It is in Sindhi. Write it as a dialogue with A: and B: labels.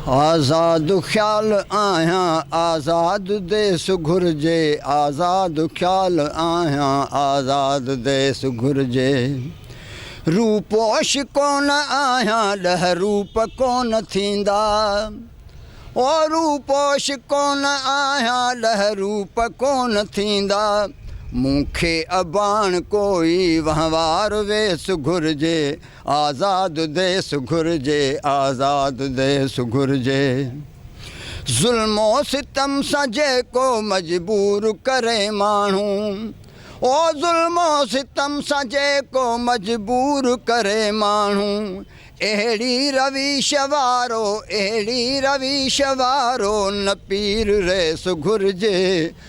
A: آزاد خيال آهيان آزاد ديس گهرجي آزاد خيال آهيان آزاد ديس گهرجي روپوش ڪون آهيان ڏهه روپ ڪون ٿيندا او روپوش ڪون آهيان ڏهه روپ ڪون ٿيندا مون کي اباڻ ڪوئي وهنوار ويس گهرجي آزاد ديس گهرجي، آزاد ديس گهرجي. ظلم و ستم سان جيڪو مجبور ڪري ماڻهو او ظلم و ستم سان جيڪو مجبور ڪري ماڻهو اهڙي رويش وارو اهڙي رويش وارو نه پير ريس گهرجي